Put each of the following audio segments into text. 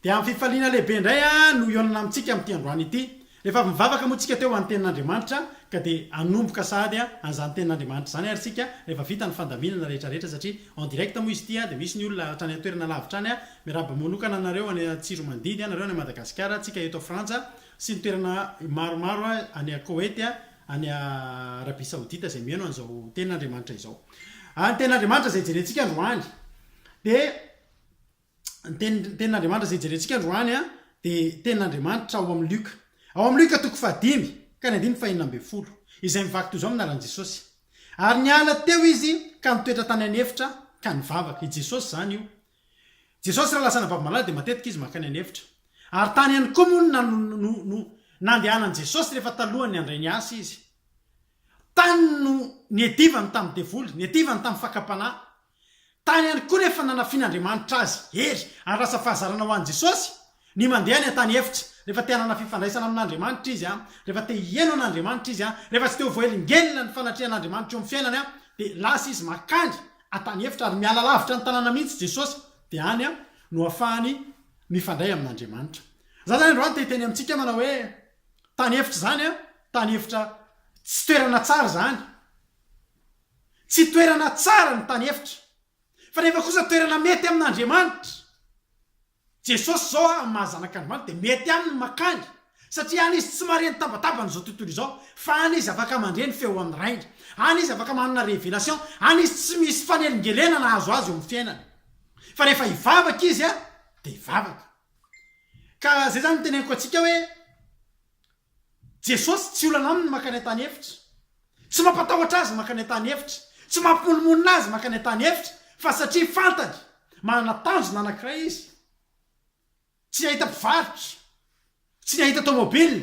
Dia amin'ny fifaliana lehibe indray aho no hihaonana amintsika amin'ity androany ity. Rehefa avy mivavaka moa isika teo ho an'ny Tenin'Andriamanitra, ka dia hanomboka sahady an'izany Tenin'Andriamanitra izany ary isika rehefa vita ny fandaminana rehetra rehetra satria en direct moa izy ity dia misy ny olona hatrany an-toerana lavitra any. Miarahaba manokana anareo any Antsiromandidy, anareo any Madagasikara, antsika eto Frantsa sy ny toerana maromaro any Koety, any Arabia Saodita izay mihaino an'izao Tenin'Andriamanitra izao. Ary ny Tenin'Andriamanitra izay jerentsika androany dia ny teny ny tenin'Andriamanitra izay jerentsika androany a dia tenin'Andriamanitra ao amin'ny Lioka ao amin'ny Lioka toko fahadimy ka ny andininy fahenina ambin'ny folo izay mivaky toy izao amin'ny anaran'i Jesosy ary niala teo izy ka nitoetra tany an'efitra ka nivavaka i Jesosy izany io Jesosy raha lasa anabavy malala dia matetika izy mankany an'efitra ary tany ihany koa moa na no, no, no nandehanan'i Jesosy rehefa talohan'ny handray ny asa izy tany no niadivany tamin'ny devoly niadivany tamin'ny fakam-panahy Tany ihany koa rehefa nanafin'Andriamanitra azy hery ary lasa fahazarana ho an'i Jesosy ny mandeha any an-tany efitra. Rehefa te hanana fifandraisana amin'Andriamanitra izy, rehefa te hihaino an'Andriamanitra izy, rehefa tsy te ho voahelingelina ny fanatrehan'Andriamanitra eo amin'ny fiainany, dia lasa izy mankany an-tany efitra ary miala lavitra ny tanàna mihitsy Jesosy, dia any no afahany mifandray amin'Andriamanitra. Za zany androany te hiteny amintsika manao hoe tany efitra izany, tany efitra tsy toerana tsara izany. Tsy toerana tsara ny tany efitra, fa nefa kosa toerana mety amin'Andriamanitra. Jesosy izao amin'ny maha Zanak'Andriamanitra dia mety aminy ny makany, satria any izy tsy mahare ny tabataban'izao tontolo izao, fa any izy afaka mandre ny feo amin'ny Rainy. Any izy afaka manana révélation, any izy tsy misy fanelingelena nahazo azy eo amin'ny fiainany. Fa rehefa hivavaka izy dia hivavaka. Ka izay izany no teneniko antsika hoe, Jesosy tsy olana aminy mankany an-tany efitra. Tsy mampatahotra Azy mankany an-tany efitra. Tsy mampimonomonona Azy mankany an-tany efitra, fa satria fantany, manana tanjona anankiray Izy. Tsy nahita mpivarotra. Tsy nahita tômôbila.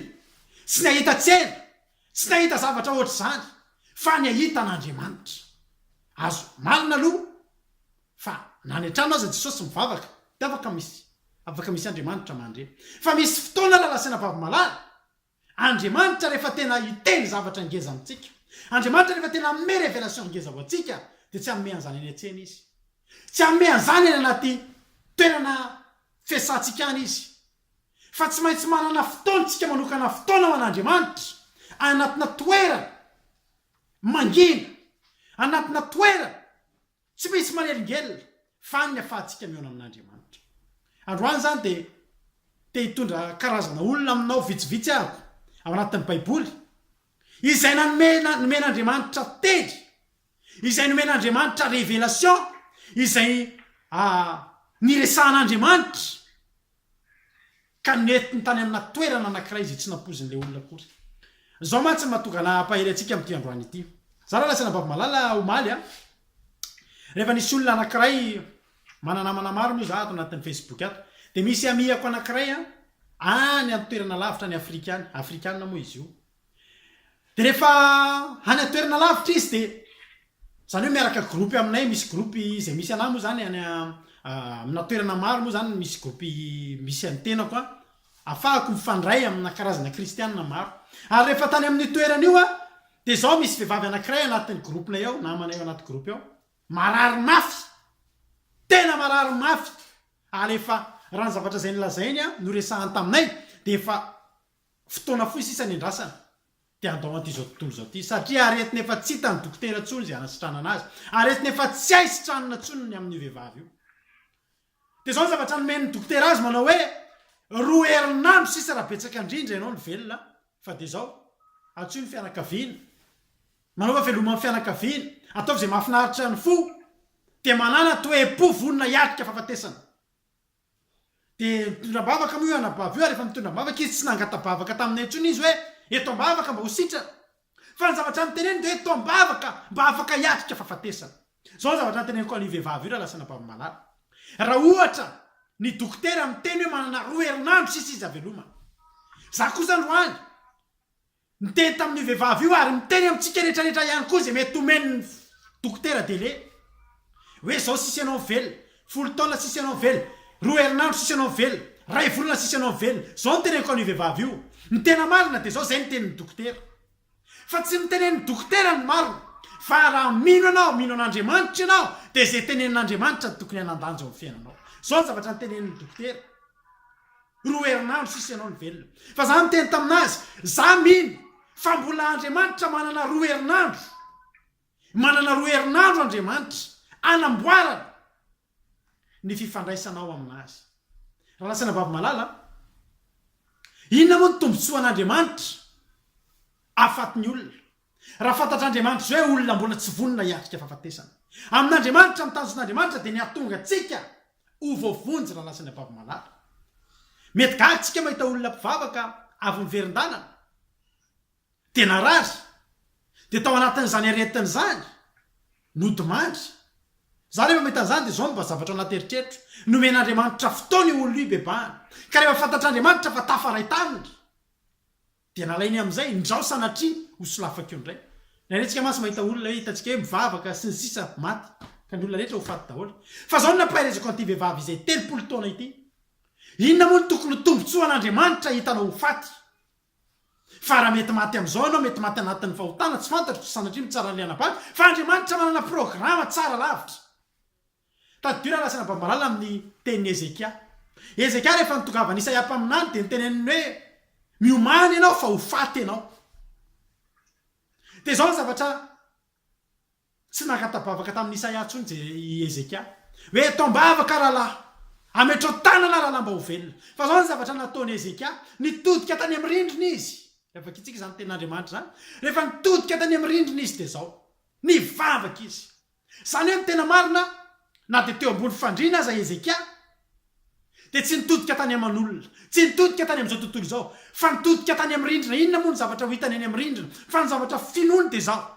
Tsy nahita tsena. Tsy nahita zavatra hoatr'izany. Fa nahita an'Andriamanitra. Azo omalina aloha. Fa na any an-trano aza Jesosy mivavaka dia afaka misy afaka misy Andriamanitra mandre. Fa misy fotoana lalasaina vavy malala Andriamanitra rehefa tena hiteny zavatra ngeza amintsika. Andriamanitra rehefa tena hanome révélation ngeza ho antsika dia tsy hanome an'izany any an-tsena Izy. Tsy hanome an'izany any anaty toerana fiasantsika any Izy. Fa tsy maintsy manana fotoana tsika manokana fotoana ho an'Andriamanitra any anatina toerana mangina, anatina toerana Tsy misy manelingelina fa ny afahantsika mihaona amin'Andriamanitra. Androany izany dia te hitondra karazana olona aminao vitsivitsy aho ao anatin'ny Baiboly izay nanome nomen'Andriamanitra teny, izay nomen'Andriamanitra révélation, izay niresahan'Andriamanitra ka nentiny tany amina toerana anankiray izay tsy nampoizin'ilay olona akory. Izao mantsy no mahatonga ana hampahery antsika amin'ity androany ity. Izaho raha nilatsaka an'Ambavimalala omaly, rehefa nisy olona anankiray, manana namana maro moa izaho ato anatin'ny Facebook ato, dia misy amiako anankiray any an-toerana lavitra any Afrika any, afrikana moa izy io, Dia rehefa any an-toerana lavitra izy dia izany hoe miaraka groupe aminay, misy groupe izay misy anah moa izany any amina toerana maro moa izany misy groupe misy an'ny tenako an, afahako mifandray amina karazana kristianina maro. Ary rehefa tany amin'io toerana io aho dia izao misy vehivavy anankiray anatin'ny groupe-nay ao, namanay ao anaty groupe ao, marary mafy, tena marary mafy, ary efa raha ny zavatra izay nolazainy an, noresahany taminay dia efa Fotoana fohy sisa ny andrasana dia handao an'ity izao tontolo izao ity, satria aretina efa tsy hitan'ny dokotera intsony izay hanasitranana azy, aretina efa tsy hay sitranina intsony ny amin'io vehivavy io. Dia izao ny zavatra nomen'ny dokotera azy, manao hoe, roa herinandro sisa raha betsaka indrindra ianao no velona, fa dia izao, antsoy ny fianakaviana, manaova fialoman'ny fianakaviana, ataovy izay mahafinaritra ny fo, dia manàna toe-po vonona hiatrika fahafatesana. Dia mitondra am-bavaka moa io anabavy io ary efa mitondra am-bavaka izy, tsy nangata-bavaka taminay intsony izy hoe eto am-bavaka mba ho sitrana. Fa ny zavatra noteneniny dia hoe eto am-bavaka mba afaka hiatrika fahafatesana. Izao ny zavatra noteneniko an'io vehivavy io raha lasa anabavy malala, raha ohatra ny dokotera niteny hoe manana roa herinandro sisa izy havelomana. Izaho kosa androany Niteny tamin'io vehivavy io ary miteny amintsika rehetrarehetra ihany koa izay mety omen'ny dokotera délai. Hoe izao sisa ianao mivelona, folo taona sisa ianao mivelona, roa herinandro sisa ianao mivelona, iray volana sisa ianao mivelona. Izao no teneniko an'io vehivavy io, ny tena marina dia izao, izay no tenin'ny dokotera. Fa tsy ny tenen'ny dokotera no marina, fa raha mino ianao, mino an'Andriamanitra ianao, dia izay tenenin'Andriamanitra no tokony hanan-danja eo amin'ny fiainanao. Izao ny zavatra notenenin'ny dokotera. Roa herinandro sisa ianao no velona. Fa izaho niteny tamin'azy, Izaho mino fa mbola Andriamanitra manana roa herinandro. Manana roa herinandro Andriamanitra hanamboarana ny fifandraisanao amin'Azy. Ranasaina Babimalala a! Inona moa ny tombontsoan'Andriamanitra afaty ny olona? Raha fantatr'Andriamanitra izao hoe olona mbola tsy vonona hiatrika fahafatesana, amin'Andriamanitra, ny tanjon'Andriamanitra dia ny hahatonga antsika ho voavonjy raha lasa ny ampahava malala. Mety gaga isika mahita olona mpivavaka avy niverin-dalana, dia narary, dia tao anatin'izany aretina izany, nodimandry. Izaho rehefa mahita an'izany dia izao no mba zavatra ao anaty eritreritro, nomen'Andriamanitra fotoana io olona io hibebahana, ka rehefa fantatr'Andriamanitra fa tafaray taminy, Dia nalainy amin'izay, ndrao sanatria ho solafaka eo indray. Niretsika mantsy mahita olona hoe hitantsika hoe mivavaka sy ny sisa maty, ka ny olona rehetra ho faty daholo. Fa izao no nampaherezako an'ity vehivavy izay telopolo taona ity, Inona moa no tokony ho tombontsoan'Andriamanitra hitanao ho faty? Fa raha mety maty amin'izao ianao, mety maty anatin'ny fahotana, tsy fantatro, sanatria mitsara ny liana-bato, fa Andriamanitra manana programa tsara lavitra. Tadidio ilay lahatsary Ambamalala amin'ny tenin'i Hezekia. Hezekia rehefa nitongavan'i Isaia mpaminany dia noteneniny hoe, Miomàna ianao fa ho faty ianao. Dia izao ny zavatra tsy nangata-bavaka tamin'i Isaia intsony Je, i Hezekia. Hoe, Eto am-bavaka rahalahy, ametrao tanana rahalahy mba ho velona. Fa izao ny zavatra nataon'i Hezekia, nitodika tany amin'ny rindrina izy. Ilay vakintsika izany tenin'Andriamanitra izany. Rehefa nitodika tany amin'ny rindrina izy dia izao, nivavaka izy. Izany hoe ny tena marina, na dia teo ambony fandriana aza i Hezekia, dia tsy nitodika tany aman'olona, tsy nitodika tany amin'izao tontolo izao, fa nitodika tany amin'ny rindrina. Inona moa ny zavatra ho hitany eny amin'ny rindrina, fa ny zavatra finoany dia izao,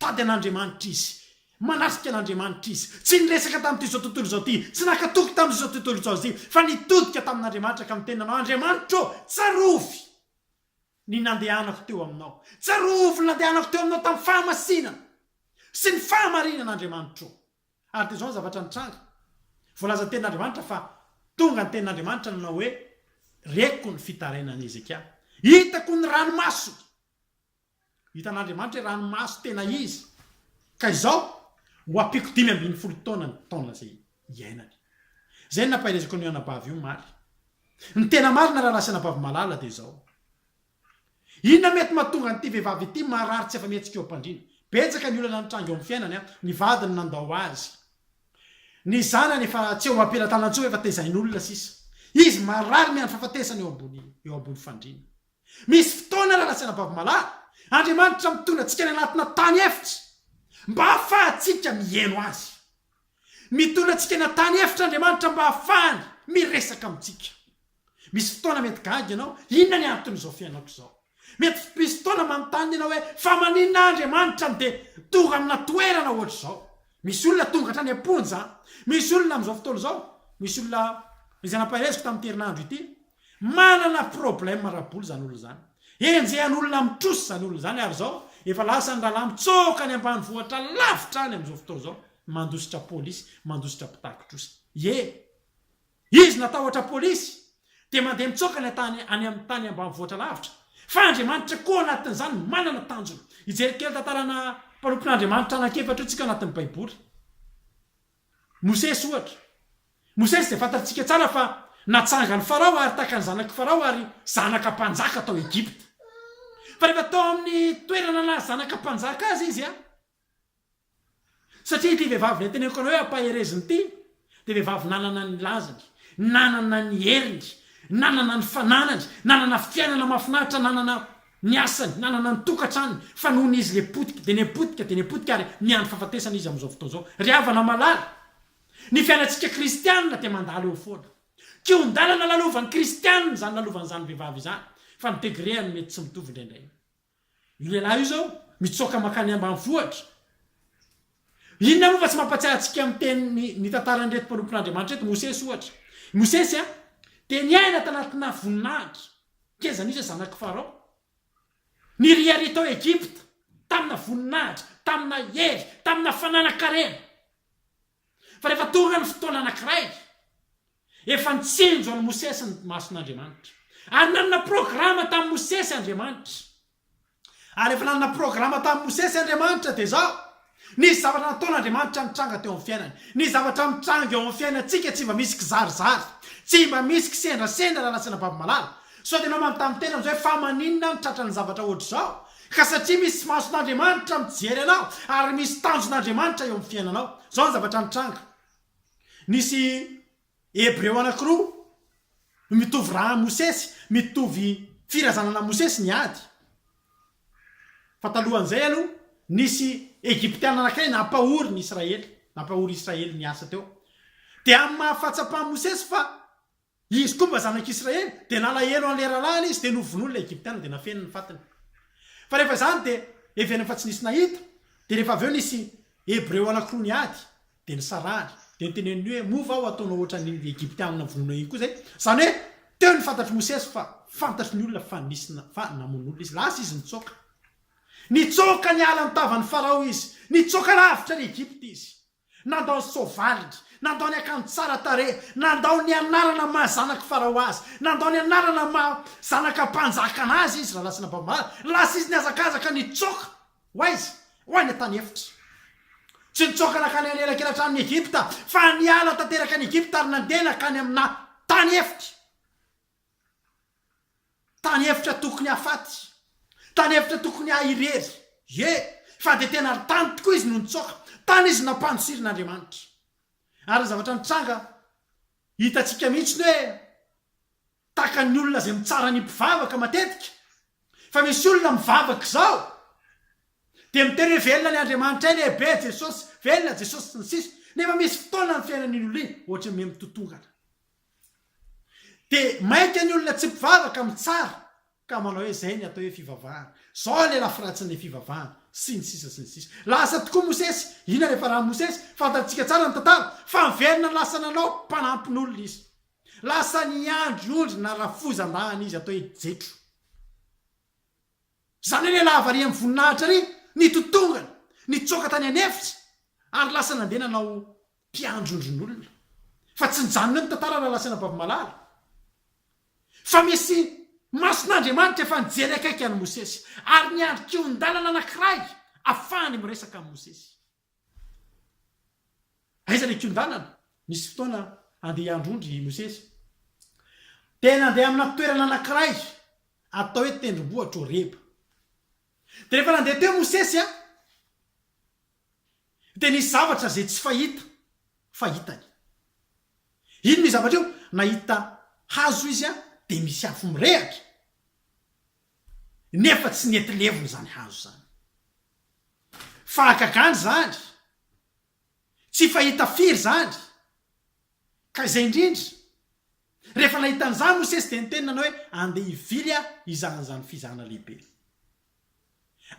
Tady an'Andriamanitra izy, manasika an'Andriamanitra izy. Tsy niresaka tamin'itizao tontolo izao ity, tsy naka toky tamin'izao tontolo izao izy, fa nitodika tamin'Andriamanitra ka niteny nanao, Andriamanitro ô, tsarovy! ny nandehanako teo aminao. Tsarovy ny nandehanako teo aminao tamin'ny fahamasinana sy ny fahamarinana Andriamanitro. Ary dia izao ny zavatra nitranga, voalazan'ny Tenin'Andriamanitra fa tonga ny Tenin'Andriamanitra nanao hoe, Reko ny fitarainan'i Hezekia. Hitako ny ranomasony. Hitan'Andriamanitra hoe ranomaso tena izy. Ka izao, ho ampiako dimy ambin'ny folo taona ny taona izay iainany. Izay no nampaherezako an'io anabavy io omaly. Ny tena marina rahalahy sy anabavy malala dia izao. Inona mety mahatonga an'ity vehivavy ity marary tsy afa-mihetsika eo am-pandriana? Betsaka ny olana nitranga eo amin'ny fiainany, ny vadiny nandao azy, ny zanany efa tsy eo am-pelatanana intsony efa tezain'olona sisa. Izy marary miandry fahafatesana eo ambony eo ambony fandriana. Misy fotoana rahalahy sy anabavy malala, Andriamanitra mitondra antsika any anatina tany efitra mba hahafahantsika miheno Azy. Mitondra antsika any an-tany efitra Andriamanitra mba hahafahany miresaka amintsika. Misy fotoana mety gaga ianao, inona ny anton'izao fiainako izao? Mety misy fotoana manontany ianao hoe, fa maninona aho Andriamanitra no dia tonga amina toerana ohatr'izao? Misy olona tonga hatrany am-ponja, misy olona amin'izao fotoana izao, misy olona izay nampahereziko tamin'ity herinandro ity, Manana problème ara-bola izany olona izany. Enjehan' olona amin'ny trosa izany olona izany ary izao efa lasan'ny rahalahy mitsoaka any ambanivohitra lavitra any amin'izao fotoana izao mandositra polisy, mandositra mpitaki-trosa. Ie! Izy natahotra polisy dia mandeha mitsoaka any an-tany any amin'ny tany ambanivohitra lavitra. Fa Andriamanitra koa anatin'izany manana tanjona. Hijery kely tantarana mpanompon'Andriamanitra anankiefatra io tsika anatin'ny Baiboly. Mosesy, ohatra. Mosesy dia fantatrtsika tsara fa natsangan'i Farao ary takan'ny zanak'i Farao ary zanaka mpanjaka tao Egypta. Fa rehefa tao amin'ny toerana naha zanaka mpanjaka azy izy, satria ity vehivavy nenteneiko anao hoe hampaherezina ity dia vehivavy nanana ny lazany, nanana ny heriny, nanana ny fananany, nanana fiainana mahafinaritra, nanana ny asany, nanana ny tokantrany fa nony izy le potika de ne potika de ne potika ary miandry fahafatesana izy amizao fotoana zao. Ry havana malala, ny fiainantsika kristianina dia mandalo eo foana. Kihon-dalana lalovan'ny kristianina izany lalovan'izany vehivavy izany fa ny degré-any mety tsy mitovy indraindray. Io lehilahy io izao mitsoaka mankany ambanivohitra. Inona moa fa tsy mampatsiahy antsika ny teniny ny tantaran'ireto mpanompon'Andriamanitra ireto, Mosesy ohatra. I Mosesy dia niaina tanatinà voninahitra, k'aiza no izy hoe zanak'i Farao. Niriaria tao Egypta, taminà voninahitra, taminà hery, taminà fananan-karena. Fa rehefa tonga ny fotoana anankiray, efa nitsinjo an'i Mosesy ny mason'Andriamanitra. Ary nanana programa tamin'i Mosesy Andriamanitra. Ary efa nanana programa tamin'i Mosesy Andriamanitra, dia izao, Nisy zavatra nataon'Andriamanitra nitranga teo amin'ny fiainany. Ny zavatra mitranga eo amin'ny fiainantsika tsy mba misy kizarizary, tsy mba misy kisendrasendra raha nasiana baby malala. Sao dia ianao manontany tena amin'izao hoe fa maninona aho no tratran'ny zavatra hoatr'izao? Ka satria misy mason'Andriamanitra mijery anao ary misy tanjon'Andriamanitra eo amin'ny fiainanao. Izao ny zavatra nitranga, Nisy Hebreo anankiroa no mitovy raha amin'i Mosesy, mitovy firazanana amin'i Mosesy ny ady. Fa talohan'izay aloha, nisy Egyptiana anankiray nampahory ny Israely, nampahory Israely niasa teo. Dia amin'ny maha fahatsapan'i Mosesy fa izy koa mba zanak'Israely, dia nalahelo an'ilay rahalahiny izy, dia novonoin'ilay Egyptiana, dia nafeniny ny fatiny. Fa rehefa izany dia heverina fa tsy nisy nahita, dia rehefa avy eo nisy Hebreo anankiroa niady, Dia nisarahany. Dia niteneniny hoe, Moa va ho ataonao hoatran'iny Egyptianina novonoinao iny koa izay? Izany hoe, teo ny fantatr'i Mosesy fa fantatry ny olona fa nisy na, fa namono olona izy. Lasa izy nitsoaka. Nitsoaka niala ny tavan'i Farao izy. Nitsoaka lavitra an'i Egypta izy. Nandao ny soavaliny. Nandao ny akanjo tsara tarehy. Nandao ny anarana maha zanak'i Farao azy. Nandao ny anarana maha zanaka mpanjaka anazy izy, raha lasa nababombaly. Lasa izy nihazakazaka nitsoaka. Ho aiza? Ho any an-tany efitra. Tsy nitsoaka nankany an'elakelan-tranon'i Egypta, fa niala tanteraka an'i Egypta ary nandeha nankany aminà tany efitra. Tany efitra tokony hahafaty. Tany efitra tokony haha irery. Ie, fa dia tena ry tany tokoa izy no nitsoaka. Tany izy nampandosirin'Andriamanitra. Ary ny zavatra nitranga, hitantsika mihitsy ny hoe. Takan'ny olona izay mitsara ny mpivavaka matetika fa misy olona mivavaka izao dia miteny hoe velona ilay Andriamanitray lehibe, Jesosy, velona Jesosy sy ny sisa nefa misy fotoana ny fiainan'iny olona iny ohatry ny mihamitontonkana. Dia maika ny olona tsy mpivavaka mitsara ka manao hoe izay ny atao hoe fivavahana, izao ilay lafiratsin'ilay fivavahana sy ny sisa sy ny sisa. Lasa tokoa Mosesy, inona ilay farany Mosesy, fantatsika tsara ny tantara fa niverina lasa nanao mpanampin'olona izy. Lasan'i Andry ondry narafoza mba an izy atao hoe Jetro. Zany hoe lehilahy varian voninahitra ary nitotongana, nitsoaka tany an efitra ary lasa nandeha nanao mpiandry ondrin'olona. Fa tsy nijanona eo ny tantara raha lasan'i Rabavimalala. Fa misy mason'Andriamanitra efa nijery akaiky an'i Mosesy ary niandry kihon-dalana anankiray afahany miresaka amin'i Mosesy. Aiza le kiondanana? Nisy fotoana andeha hiandry ondry i Mosesy. Dia nandeha amina toerana anankiray atao hoe tendrombohitra Horeba. Dia rehefa nandeha teo Mosesy an, dia nisy zavatra izay tsy fahita fa hitany. Inona io zavatra io? Nahita hazo izy an, dia misy afo mirehatra. nefa tsy nety levona izany hazo izany. Fahagagana izany, tsy fahita firy izany, ka izay indrindra, rehefa nahita an'izany Mosesy dia niteny nanao hoe, Andeha hivily aho hizaha an'izany fizahana lehibe.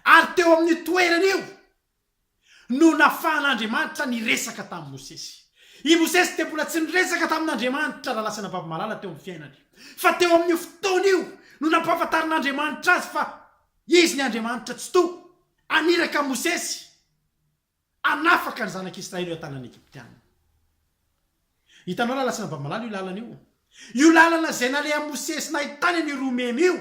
Ary teo amin'io toerana io, no nafahan'Andriamanitra niresaka tamin'i Mosesy. I Mosesy dia mbola tsy niresaka tamin'Andriamanitra raha lasa nababo-malala teo amin'ny fiainany. Fa teo amin'io fotoana io no nampahafantarin'Andriamanitra azy fa Izy ny Andriamanitra Tsitoha, haniraka an'i Mosesy hanafaka ny zanak'i Israely eo an-tanan'ny Egyptiana. Hitanao raha lasa nababo-malala io lalana io? Io lalana izay nalehan'i Mosesy nahitany an'io roa memy io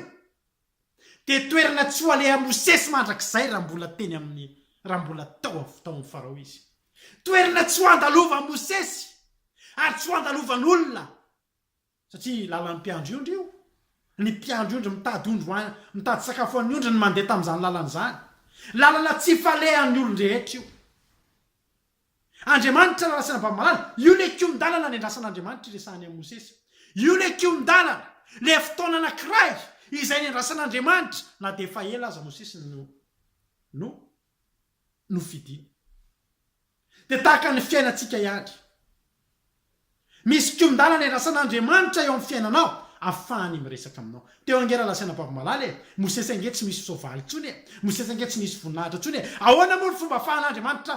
dia toerana tsy ho aleha mosesy mandrakizay raha mbola teny amin'ny raha mbola tao avy tao amin'ny Farao izy. Toerana tsy ho andalovan'i Mosesy ary tsy ho andalovan'olona satria lalan'ny mpiandry ondry io. Ny mpiandry ondry mitady ondry ho mitady sakafo ho an'ny ondry ny mandeha tamin'izany lalana izany. Lalana tsy falehan'ny olon-drehetra io. Andriamanitra narasana Bamala, io le kihon-dalana niandrasan'Andriamanitra iresahany amin'i Mosesy. Io le kihon-dalana, le fotoana anankiray izay niandrasan'Andriamanitra na dia efa ela aza Mosesy no no nofidiny. Dia tahaka ny fiainantsika ihany. Misy kion-dalana iandrasan'Andriamanitra eo amin'ny fiainanao afahany miresaka aminao. Teo ange raha lasaina babo malala e! Mosesy ange tsy misy soavaly intsony e! Mosesy ange tsy nisy voninahitra intsony e! Ahoana moa ny fomba afahan'Andriamanitra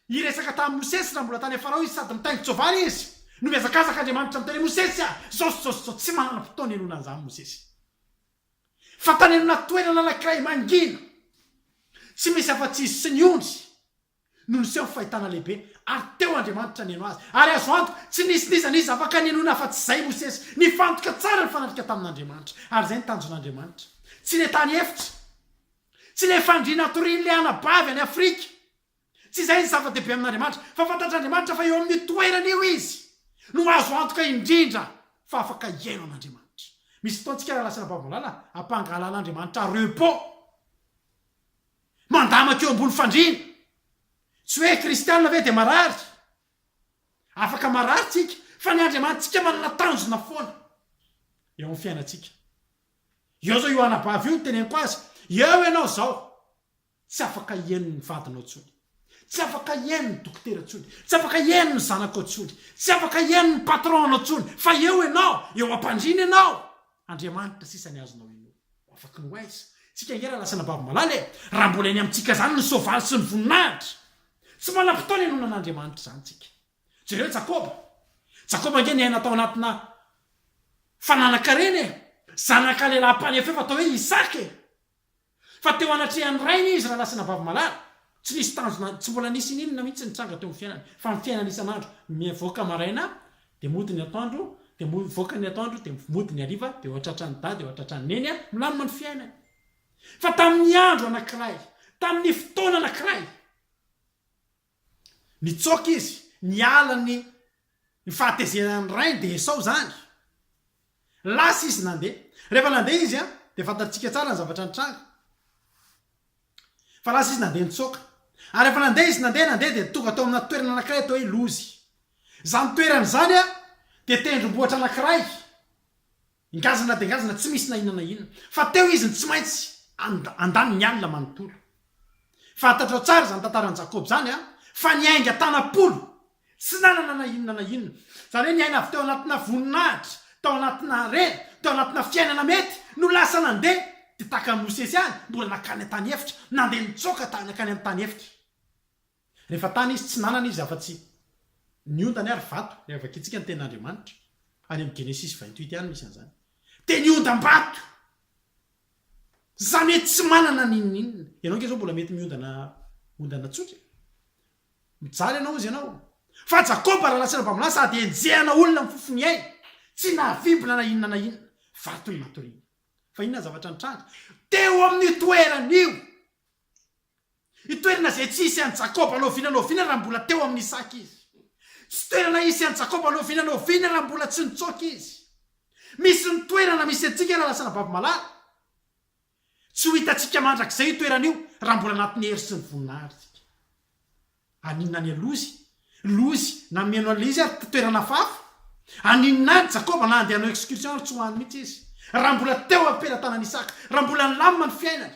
hiresaka tamin'i Mosesy raha mbola tany amin'ny Farao izy sady mitaingin-tsoavaly izy? No mihazakazaka Andriamanitra miteny hoe Mosesy a! Zao sy zao sy zao tsy manana fotoana hihainoana an'izany Mosesy fa tany amina toerana anankiray mangina tsy misy afa-tsy izy sy ny ondry. no niseho ho fahitana lehibe, ary teo Andriamanitra nihaino azy. Ary azo antoka, tsy nisy n'iza n'iza afaka nihenoina afa-tsy izay Mosesy. Nifantoka tsara ny fanatrika tamin'Andriamanitra, ary izay ny tanjon'Andriamanitra. Tsy ilay tany efitra. Tsy ilay fandriana hatorian'ilay anabavy any Afrika. Tsy izay ny zava-dehibe amin'Andriamanitra. Fa fantatr'Andriamanitra fa eo amin'io toerana io izy, no azo antoka indrindra fa afaka hihaino an'Andriamanitra. Misy fotoana tsika raha lasa anabavy malala, ampangahalan'Andriamanitra repos. Mandamaka eo ambony fandriana. Tsy hoe kristiana ve dia marary? Afaka marary tsika fa ny Andriamanitsika manana tanjona foana eo amin'ny fiainantsika. Eo zao io anabavy io noteneniko azy, eo ianao zao tsy afaka hihaino ny vadinao intsony. Tsy afaka hihaino ny dokotera intsony, tsy afaka hihaino ny zanakao intsony, tsy afaka hihaino ny patron-nao intsony, fa eo ianao, eo am-pandriana ianao. Andriamanitra sisa ny azonao inoa. Afaky ny ho aiza? Tsika ange raha lasa anabavy malala e! Raha mbola eny amintsika izany ny soavaly sy ny voninahitra! Tsy manam-potoana hinoana an'Andriamanitra izany tsika. Jereo Jakoba. Jakoba ange niaina tao anatina fananan-karena e! Zanaka lehilahy mpanefefa atao hoe Isaka e! Fa teo anatrehan'ny Rainy izy raha nasina vavy malala. Tsy nisy tanjona, tsy mbola nisy n'inona mihitsy nitranga teo amin'ny fiainany, fa ny fiainana isan'andro, mivoaka maraina dia mody ny atoandro, dia mivoaka ny atoandro dia mody ny hariva, dia eo an-tratran'i Dada, eo an-tratran'i Neny, milamina ny fiainany. Fa tamin'ny andro anankiray, tamin'ny fotoana anankiray. Nitsoaka izy, niala ny ny fahatezeran'ny rainy dia Esao izany. Lasa izy nandeha. Rehefa nandeha izy an, dia fantatsika tsara ny zavatra nitranga. Fa lasa izy nandeha nitsoaka. Ary rehefa nandeha izy, nandeha, nandeha dia tonga tao amina toerana anankiray atao hoe Lozy. Izany toerana izany an, dia tendrombohitra anankiray. Ngazana dia ngazana tsy misy na inona na inona. Fa teo izy no tsy maintsy handany ny alina manontolo. Fantatrao tsara izany tantaran'i Jakoba izany an! Fa niainga tanam-polo, tsy nanana na inona na inona. Izany hoe niaina avy teo anatina voninahitra, tao anatina harena, tao anatina fiainana mety, no lasa nandeha, dia tahaka an'i Mosesy ihany, mbola nankany an-tany efitra, nandeha nitsoaka nankany amin'ny tany efitra. Rehefa tany izy, tsy nanana izy afa-tsy ny ondana ary vato, raha vakintsika ny tenin'Andriamanitra any amin'ny Genesisy vingt huit any misy an'izany. Dia ny ondam-bato! Za mety tsy manana n'inon'inona. Ianao ange zao mbola mety miondana ondana tsotra. Mijaly ianao hozy ianao. Fa Jakoba lala sy Rabamalahy sady enjehana olona amin'ny fofo miay, tsy nahavimbina na inona na inona. Vato ny matoriany. Fa inona ny zavatra nitranga? Teo amin'io toerana io! Ny toerana izay tsy hisy an'i Jakoba no oviana no oviana raha mbola teo amin'i Isaka izy. Tsy toerana hisy an'i Jakoba no oviana no oviana raha mbola tsy nitsoaka izy. Misy ny toerana misy antsika raha lasa anabavy malala. Tsy ho hitantsika mandrakizay io toerana io raha mbola anatin'ny hery sy ny voninahitra isika. Haninona any Lozy, Lozy, na mihaino an'ilay izy ary toerana hafahafa? Haninona any Jakoba na handeha hanao excursion ary tsy ho any mihitsy izy? Raha mbola teo am-pelatanan'i Isaka, raha mbola nilamina ny fiainany.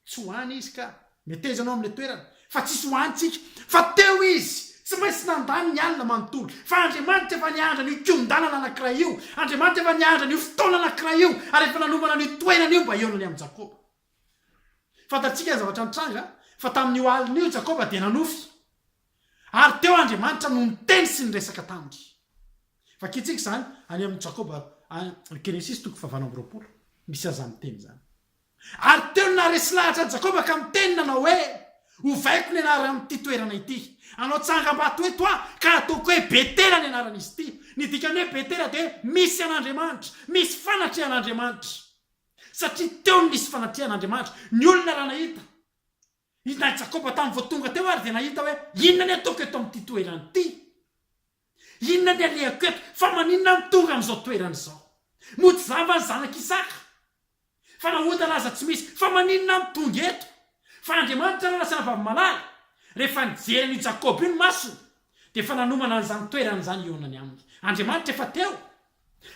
Tsy ho any izy ka. Meteza anao amin'ilay toerana. Fa tsisy ho any tsika. Fa teo izy. Tsy maintsy nandany ny alina manontolo. Fa Andriamanitra efa niandry an'io kihon-dalana anankiray io. Andriamanitra efa niandry an'io fotoana anankiray io, ary efa nanomana an'io toerana io mba hihaonany amin'i Jakoba. Fantatsika ny zavatra nitranga, fa tamin'io alina io Jakoba dia nanofy. Ary teo Andriamanitra no niteny sy niresaka taminy. Vakintsika izany any amin'i Jakoba, Genesisy toko fahavalo amby roapolo. Misy an'izany teny izany. Ary teo no naharesy lahatra an'i Jakoba ka niteny nanao hoe, Ovaiko ny anaran'ity toerana ity. Hanao tsangambato eto aho, ka hataoko hoe Betela ny anaran'izy ity. Ny dikan'ny hoe Betela dia Misy an'Andriamanitra, misy fanatrehan'Andriamanitra. Satria teo no nisy fanatrehan'Andriamanitra. Ny olona raha nahita. Inona i Jakoba tamin'ny vao tonga teo ary dia nahita hoe, Inona ny ataoko eto amin'ity toerana ity? Inona ny alehako eto? Fa maninona aho no tonga amin'izao toerana izao? Moa tsy zamba ny zanak'i Isaka? Fa nahotana aza tsy misy. Fa maninona aho no tonga eto? Fa Andriamanitra ary lasa navavo-malala. Rehefa nijery an'io Jakoba io ny masony, dia efa nanomana an'izany toerana izany i Onany aminy. Andriamanitra efa teo.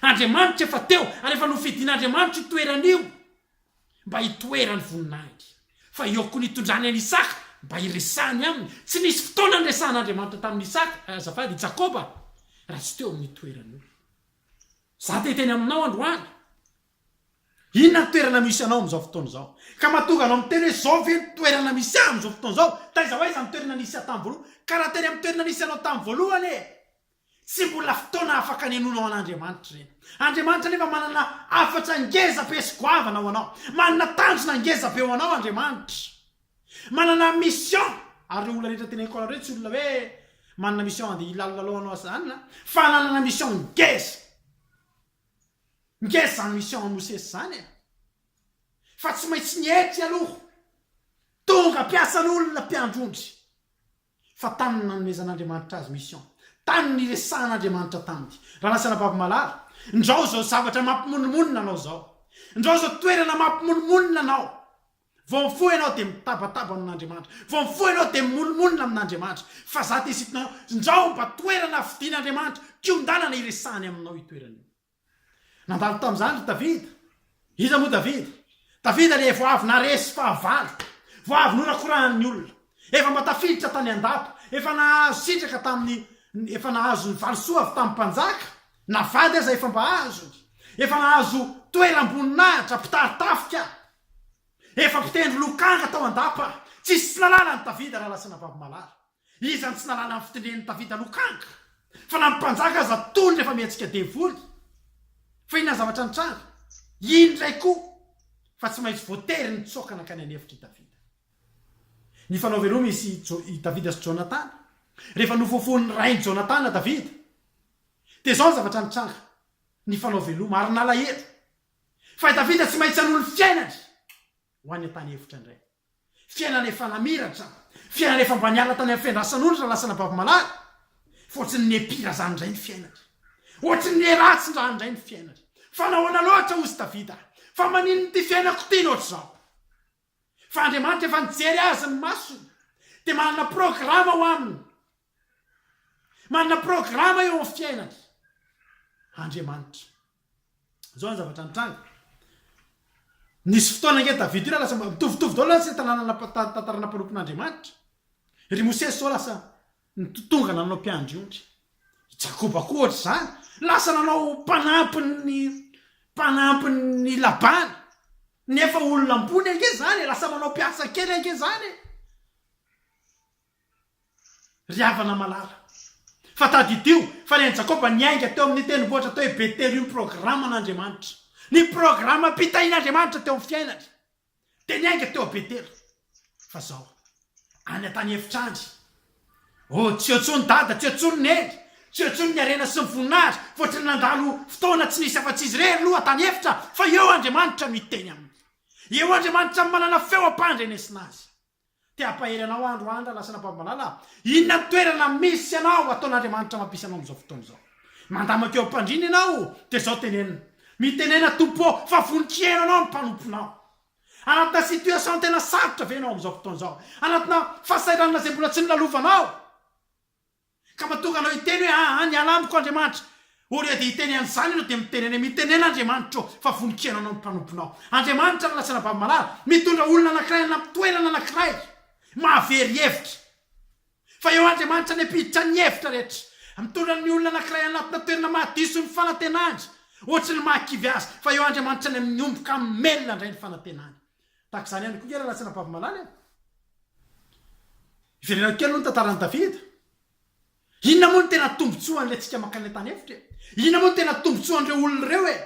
Andriamanitra efa teo, ary efa nofidin'Andriamanitra io toerana io. mba hitoeran'ny voninahitry, fa eo koa ny hitondrany an'i Isaka mba hiresany aminy, tsy nisy fotoana niresahan'Andriamanitra tamin'i Isaka, azafady, i Jakoba, raha tsy teo amin'ny toerany io. Izaho te-hiteny aminao androany, inona ny toerana misy anao amin'izao fotoana izao? Ka mahatonga anao miteny hoe, izao ve ny toerana misy ahy amin'izao fotoana izao? Taiza ho aiza ny toerana nisy ahy tamin'ny voalohany? Ka raha teny amin'ny toerana nisy anao tamin'ny voalohany e! Tsy mbola fotoana afaka anenonao an'Andriamanitra ireny. Andriamanitra anefa manana hafatra ngeza be sy goavana ho anao. Manana tanjona ngeza be ho anao Andriamanitra. Manana mission. Ary ireo olona rehetra teneniko anareo tsy olona hoe manana mission handeha hilalilalao anao sy izany an. Fa nanana mission ngeza. Ngeza izany mission an'i Mosesy izany e. Fa tsy maintsy nietry aloha. Tonga mpiasan'olona mpiandry ondry. fa tany ny nanomezan'Andriamanitra azy mission, tany niresahan'Andriamanitra taminy, raha lasa anababy malala, ndrao izao zavatra mampimonomonona anao izao, ndrao izao toerana mampimonomonona anao, vao mifoha ianao dia mitabataba amin'Andriamanitra, vao mifoha ianao dia mimonomonona amin'Andriamanitra, fa za te sitina anao, ndrao mba toerana fidin'Andriamanitra, kiondanana iresahany aminao io toerana io. Nandalo tamin'izany ry Davida. Iza moa Davida? Davida dia vao avy naharesy fahavalo, vao avy norakorahan'ny olona, efa mba tafiditra tany an-dapa, efa nahazo sitraka tamin'ny, efa nahazo ny valisoa avy tamin'ny mpanjaka, na vady aza efa mba azony, efa nahazo toeram-boninahitra, mpitari-tafika, efa mpitendry lokanga tao an-dapa. Tsy nisy tsy nanala an'i Davida raha lasa navavy malara. Iza no tsy nahalala ny fitendren'i Davida lokanga? Fa na ny mpanjaka aza tony rehefa mietsika devoly. Fa inona ny zavatra nitranga? Iny indray koa fa tsy maintsy voatery nitsoaka nankany an'efitra i Davida. Nifanao veloma izy sy Jo-, i Davida sy Jonatana. Rehefa nofofohin'ny rain'i Jonatana Davida, dia izao ny zavatra nitranga, nifanao veloma ary nalahelo. Fa i Davida tsy maintsy hanolo ny fiainany ho any an-tany efitra indray. Fiainana efa namiratra, fiainana efa mba niala tany amin'ny fiandrasan'olona lasa nabavomalaly. Fa ohatry ny nihepira izany indray ny fiainany. Ohatry ny niheratsin-drano indray ny fiainany. Fa nahoana loatra hozy Davida? Fa maninona ity fiainako ity no ohatr'izao? Fa Andriamanitra efa nijery azy ny masony, dia manana programa ho aminy. Manana programa eo amin'ny fiainany Andriamanitra. Izao ny zavatra nitranga. Nisy fotoana ange Davida io raha lasa mitovitovy daholo lasa ny tanàna tantara nampanompin'Andriamanitra. Ry Mosesy izao lasa tonga nanao mpiandry ondry. I Jakoba koa ohatr'izany. Lasa nanao mpanampin'ny mpanampin'i Labana. Nefa olona ambony ange izany e, lasa manao mpiasa kely ange izany e. Ry havana malala. Fa tadidio fa ny an'i Jakoba niainga teo amin'ny tendrombohitra teo Betela io ny programan'Andriamanitra. Ny programam-pitahian'Andriamanitra teo amin'ny fiainany dia niainga teo Betela. Fa izao, any an-tany efitra any, oh, tsy eo intsony Dada, tsy eo intsony Neny, tsy eo intsony ny harena sy ny voninahitra, fa ohatry ny nandalo fotoana tsy nisy afa-tsy izy irery aloha tany efitra, fa eo Andriamanitra miteny aminy. Eo Andriamanitra manana feo am-pandrenesina azy. Te hampahery anao aho androany raha lasa an'Ambavalala aho. Inona ny toerana misy anao ataon'Andriamanitra mampisy anao amin'izao fotoana izao? Mandamina teo am-pandriana ianao dia izao tenenina, Mitenena Tompo ô, fa voninkiera anao ny mpanomponao. Anatina situation tena sarotra ve ianao amin'izao fotoana izao? Anatina fahasahiranana izay mbola tsy nolalovanao? Ka mba tonga anao hiteny hoe aa ny ala amiko Andriamanitra ô Ry dia hiteny an'izany ianao dia mitenene Mitenena Andriamanitra ô fa vonon-kiana anao ny mpanomponao Andriamanitra ny lasanà Vavimalala Mitondra olona anankiray any amin'ny toerana anankiray Mahavery hevitra fa eo Andriamanitra any am-piditra ny hevitra rehetra Mitondra ny olona anankiray anatina toerana mahadiso ny fanantenany Ohatry ny mahakivy azy fa eo Andriamanitra any amin'ny omby ka melona indray ny fanantenany Tahaka izany ihany koa nge Ralatsina Bavimalala e! Hiverenako kely aloha ny tantaran'i Davida. Inona moa no tena tombontsoan'ilay tsika mankany le tany efitra e? Inona moa no tena tombontsoan'ireo olona ireo e?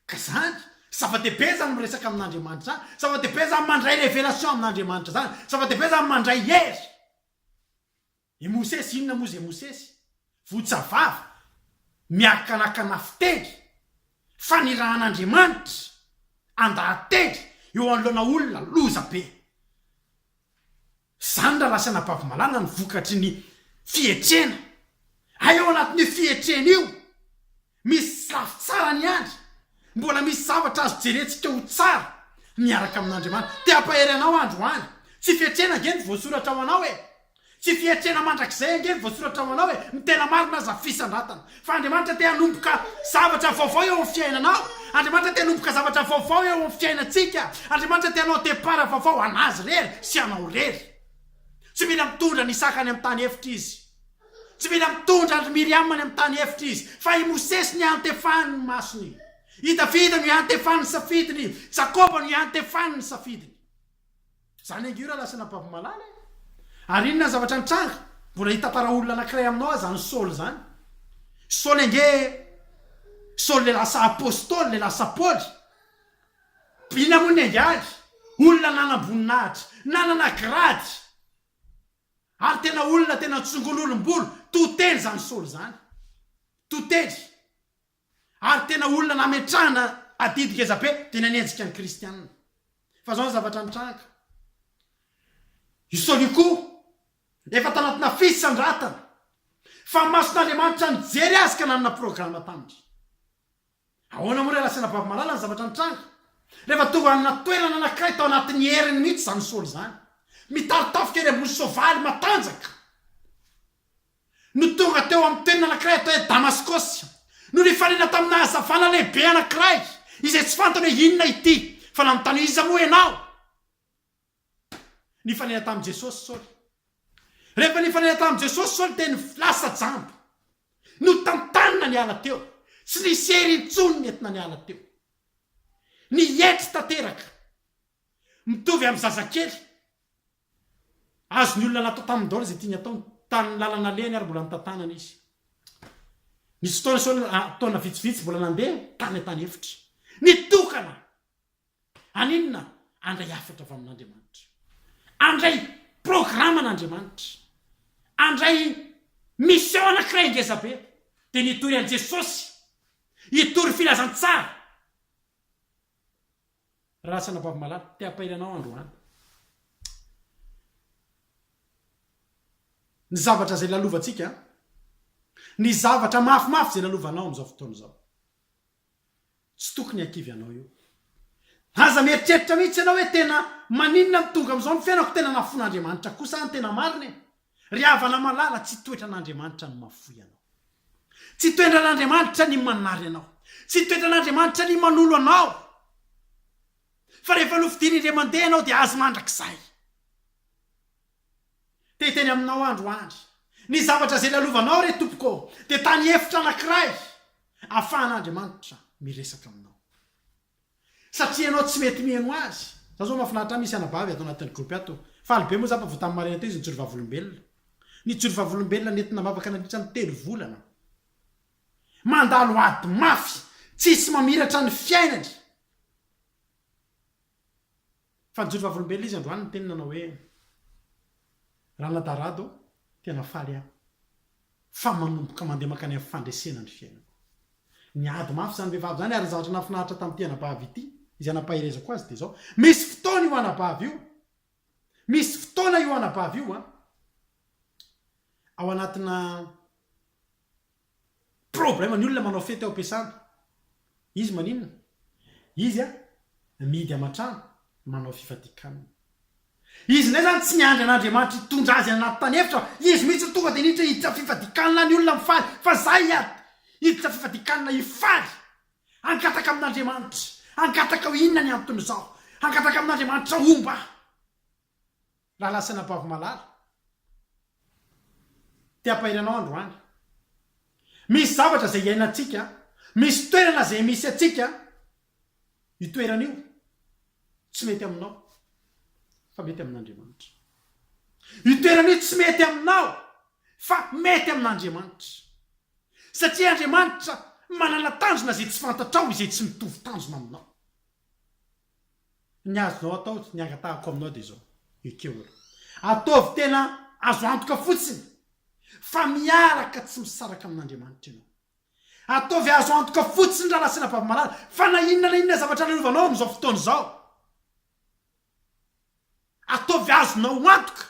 Ka izany, zava-dehibe izany miresaka amin'Andriamanitra izany, zava-dehibe izany mandray révélation amin'Andriamanitra izany, zava-dehibe izany mandray hery. I Mosesy inona moa izay Mosesy? Votsa vava, miarakalakana fiteny, fanirahan'Andriamanitra andahateny eo anoloana olona loza be. Izany raha lasa anabavy-malala no vokatry ny fietrena. Hay ao anatin'io fietrena io Misy tsy lafo tsara ny andry. Mbola misy zavatra azo jerentsika ho tsara miaraka amin'Andriamanitra. Te hampahery anao androany. Tsy fietrena ange ny voasoratra ho anao e! Tsy fietrena mandrakizay ange ny voasoratra ho anao e! Ny tena marina aza fisandratana. Fa Andriamanitra te hanomboka zavatra vaovao eo amin'ny fiainanao. Andriamanitra te hanomboka zavatra vaovao eo amin'ny fiainantsika. Andriamanitra te hanao départ vaovao an'Azy irery sy anao irery. Tsy mila mitondra ny sakany amin'ny tany efitra Izy. Tsy mila mitondra an-dry Miriama any amin'ny tany efitra izy, fa i Mosesy no iantefany ny masony. I Davida no iantefany ny safidiny, i Jakoba no iantefany ny safidiny. Izany ange io raha lasa nampavomalala e! Ary inona ny zavatra nitranga? Mbola hitantara olona anankiray aminao aza an'i Saoly izany. Saoly ange, Saoly ilay lasa Apostoly, ilay lasa Paoly. Inona moa ny angaly? Olona nanam-boninahitra, nanana grady. Ary tena olona tena tsongon'olom-bolo to teny zany soly zany. To teny. Ary tena olona nametrahana adidy ngeza be dia nanenjika ny kristianina. Fa zao ny zavatra nitranga. I soly io koa efa tanatina fisandratana. Fa mason'Andriamanitra nijery azy ka nanana programa taminy. Ahoana moa re Rasenabavomalala ny zavatra nitranga? Rehefa tonga amina toerana anankiray tao anatin'ny heriny mihitsy izany Saoly izany. Mitari-tafika eny ambony soavaly matanjaka no tonga teo amin'ny toerana anankiray atao hoe Damaskosy no nifanena tamina hazavana lehibe anankiray izay tsy fantany hoe inona ity fa nanontany hoe iza moa ianao? Nifanena tamin'i Jesosy Saoly. Rehefa nifanena tamin'i Jesosy Saoly dia ny lasa jamba. Notantanina niala teo. Tsy nisy hery intsony nentina niala teo. Nietry tanteraka. Mitovy amin'ny zazakely. Azon'ny olona natao tamin'ny daholo izay tiany ataony. Tamin'ny lalana alehany ary mbola notantanana izy. Nisy fotoana Saoly, taona vitsivitsy mbola nandeha tany an-tany efitra. Nitokana Haninona? Handray hafatra avy amin'Andriamanitra. Handray programan'Andriamanitra. Handray mission anankiray ngeza be. Dia ny hitory an'i Jesosy. Hitory filazantsara. Ralasana Babo Malala, te hampahery anao androany. Ny zavatra izay lalovantsika, ny zavatra mafimafy izay lalovanao amin'izao fotoana izao. Tsy tokony hakivy anao io. Aza mieritreritra mihitsy ianao hoe tena maninona no tonga amin'izao ny fiainako, tena nafoin'Andriamanitra kosa aho ny tena marina e! Ry havana malala, tsy toetran'Andriamanitra ny mahafoy anao. Tsy toendran'Andriamanitra ny manary anao. Tsy toetran'Andriamanitra ny manolo anao. Fa rehefa nofidiany indray mandeha ianao dia Azy mandrakizay. Te hiteny aminao andro andry. Ny zavatra izay lalovanao re Tompoko ô, dia tany efitra anankiray afahan'Andriamanitra miresaka aminao. Satria ianao tsy mety miheno Azy. Za zao mafinaritra ahy misy anabavy ato anatin'ny gropy ato. Faly be moa za fa vao tamin'ny maraina teo izy nijoro vavolombelona. Nijoro vavolombelona nentina nivavaka nandritra ny telo volana. Mandalo ady mafy, tsisy mamiratra ny fiainany. Fa nijoro vavolombelona izy androany niteny nanao hoe, Ranadaharado ô, tena faly aho fa manomboka mandeha mankany amin'ny fandresena ny fiainako. Niady mafy izany vehivavy izany ary ny zavatra nahafinaritra tamin'ity anabavy ity izay nampaherezako azy dia izao, misy fotoana io anabavy io, misy fotoana io anabavy io an, ao anatina Problème ny olona manao fety ao am-piasana. Izy maninona? Izy a, mihidy aman-trano, manao fifadian-kanina. Izy indray izany tsy miandry an'Andriamanitra hitondra azy any anaty tany efitra fa izy mihitsy no tonga dia niditra hiditra fifadian-kanina any olona mifaly fa za hiady hiditra fifadian-kanina hifaly. Hangataka amin'Andriamanitra. Hangataka hoe inona ny anton'izao. Hangataka amin'Andriamanitra homba ahy. Raha lasana bavy malala te hampahery anao androany. Misy zavatra izay iainantsika, misy toerana izay misy antsika, io toerana io tsy mety aminao fa mety amin'Andriamanitra. Io toerana io tsy mety aminao fa mety amin'Andriamanitra. Satria Andriamanitra manana tanjona izay tsy fantatrao, izay tsy mitovy tanjona aminao. Ny azonao atao, ny angatahako aminao dia izao, ekeo aloha. Ataovy tena azo antoka fotsiny fa miaraka tsy misaraka amin'Andriamanitra ianao. Ataovy azo antoka fotsiny raha nasaina babimalala fa na inona na inona zavatra lalaovanao amin'izao fotoana izao. Ataovy azonao antoka.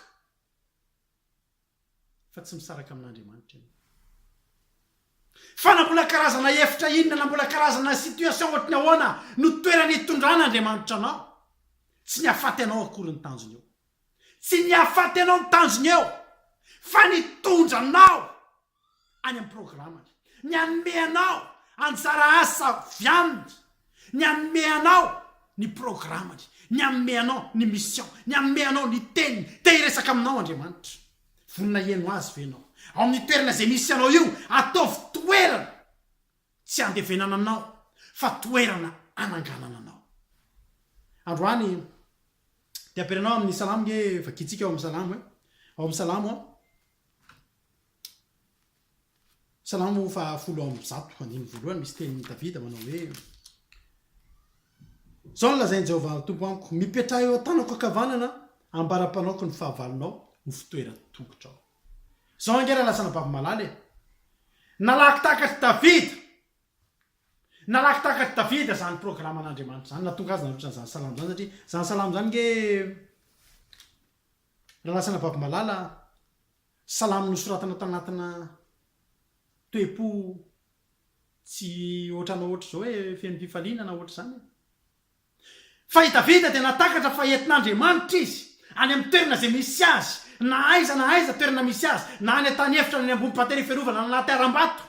fa tsy misaraka amin'Andriamanitra ianao. Fa na mbola karazana hevitra inona, na mbola karazana situation ohatry ny ahoana no toerana itondran'Andriamanitra anao, tsy ny hahafaty anao akory ny tanjony eo. Tsy ny hahafaty anao ny tanjony eo, fa ny hitondra anao any amin'ny programany, ny hanome anao anjara asa avy aminy, ny hanome anao ny programany, ny hanome anao ny mission, ny hanome anao ny teniny. Te hiresaka aminao Andriamanitra. Vonona hihaino Azy ve ianao? Ao amin'ny toerana izay misy anao io, ataovy toerana tsy handevenana anao, fa toerana hananganana anao. Androany dia ampianao amin'ny Salamo nge vagitsika ao amin'ny Salamo e. Ao amin'ny Salamo Salamo fahafolo amby zato andininy voalohany misy tenin'i Davida manao hoe, Izao no lazain'i Jehovah Tompo amiko, Mipetraha eo an-tanako ankavanana, ambara-panaoko ny fahavalonao ho fitoeran-tongotrao. Izao ange raha lasa anabavy malala e! Nalaky takatr'i Davida! Nalaky takatr'i Davida izany programan'Andriamanitra izany, nahatonga azy nanoratra an'izany salamo izany, satria izany salamo izany ange Nanasana vavy malala salamo nosoratana tanatina toe-po tsy ohatranao ohatr'izao hoe feno fifaliana na ohatr'izany e. Fa i Davida dia nahatakatra fa entin'Andriamanitra izy, any amin'ny toerana izay misy azy, na aiza na aiza toerana misy azy, na any an-tany efitra na any ambony patera ifiarovana na anaty harambato.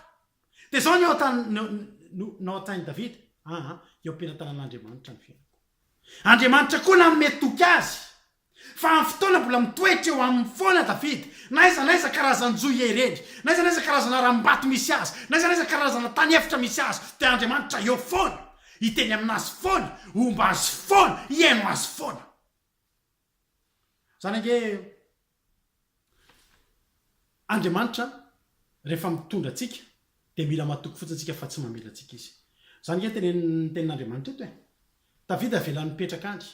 Dia izao ny ao an-tsain'i Davida, Aa, eo am-pelatanan'Andriamanitra ny fiainako. Andriamanitra koa nanome toky azy Fa amin'ny fotoana mbola mitoetra eo aminy foana Davida, na aiza na aiza karazan-jo ihereny, na aiza na aiza karazana harambato misy azy, na aiza na aiza karazana tany efitra misy azy, dia Andriamanitra eo foana, hiteny amin'azy foana, homba azy foana, hihaino azy foana. Izany ange Andriamanitra rehefa mitondra antsika, dia mila matoky fotsiny isika fa tsy mamela antsika Izy. Izany ange ny tenin'Andriamanitra eto e. Davida avelany mipetraka any.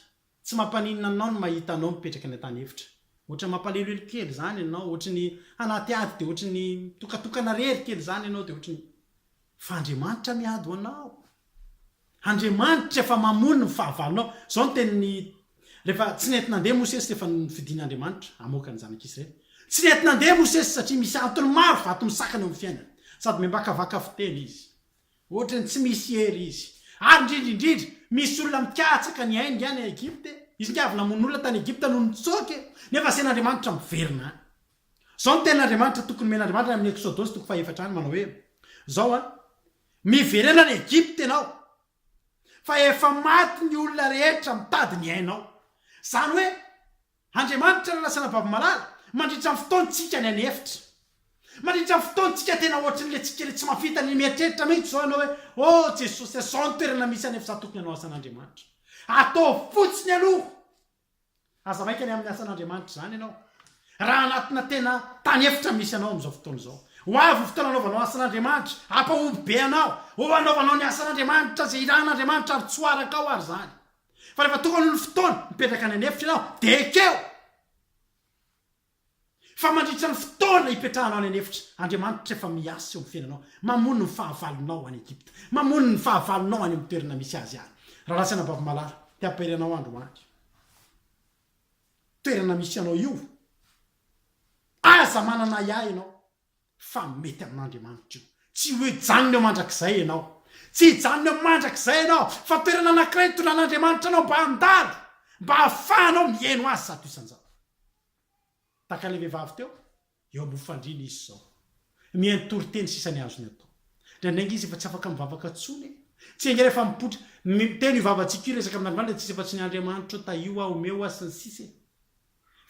Tsy mampaninona anao ny mahita anao mipetraka any an-tany efitra? Ohatra mampaleloelo kely zany ianao, ohatra ny anaty ady dia ohatra ny mitokatokana rery kely zany ianao dia ohatra ny fa Andriamanitra miady ho anao. Andriamanitra efa mamono ny fahavalonao. Zao ny tenin'ny rehefa tsy nety nandeha Mosesy rehefa nofidin'Andriamanitra hamoaka ny zanak'i Israely. Tsy nety nandeha Mosesy satria misy antony maro vato misakana eo amin'ny fiainany. Sady miambakavaka fiteny izy. Ohatran'ny tsy misy hery izy. Ary indrindra indrindra, misy olona mikatsaka ny ainy any Egypta e! Izy nga avy namono olona tany Egypta no nitsoaka e! Nefa asen'Andriamanitra miverina any. Zao ny tenin'Andriamanitra tokony omen'Andriamanitra any amin'ny Eksodosy toko fahefatra any, manao hoe, Zao an, miverena any Egypta ianao, fa efa maty ny olona rehetra mitady ny ainao. Zany hoe, Andriamanitra no lasa anabavy malala mandritra ny fotoan-tsika any an'efitra. Mandritra ny fotoan-tsika tena ohatrin'ny le tsikery tsy mampita ny mieritreritra mihitsy zao ianao hoe oh Jesosy a zao ny toerana misy anefa za tokony anao asan'Andriamanitra. Ataovy fotsiny aloha. Aza maika ny amin'ny asan'Andriamanitra zany ianao raha anatina tena tany efitra misy anao amin'izao fotoana izao. Ho avy ny fotoana anaovanao asan'Andriamanitra, hampahomby be anao. Oh anaovanao ny asan'Andriamanitra zay ilàn'Andriamanitra ary tsoarakao ary zany. Fa rehefa tokony ho ny fotoana mipetraka any an'efitra ianao dia ekeo fa mandritra ny fotoana hipetrahanao any an'efitra, Andriamanitra efa miasa eo amin'ny fiainanao, mamono ny fahavalonao any Egypta, mamono ny fahavalonao any amin'ny toerana misy azy any. Rarasana Bavimalala, te hampahery anao andro ho andro. Toerana misy anao io, aza manana ahiahy ianao. Fa mety amin'Andriamanitra io. Tsy hoe hijanona eo mandrakizay ianao. Tsy hijanona eo mandrakizay ianao, fa toerana anankiray nitondra'n'Andriamanitra anao mba handalo, mba hahafahanao mihaino Azy zato isan-jato. Tahaka ilay vehivavy teo, eo ambony fandriana izy izao. Mihaino toriteny sisa ny azony atao. Indraindraingy izy efa tsy afaka mivavaka intsony e! Tsy enga rehefa mipoitra, miteny io vavantsika io, hiresaka amin'Andriamanitra, dia tsy izy fa tsy ny Andriamanitra hoe tahio aho, omeo aho, sy ny sisa e!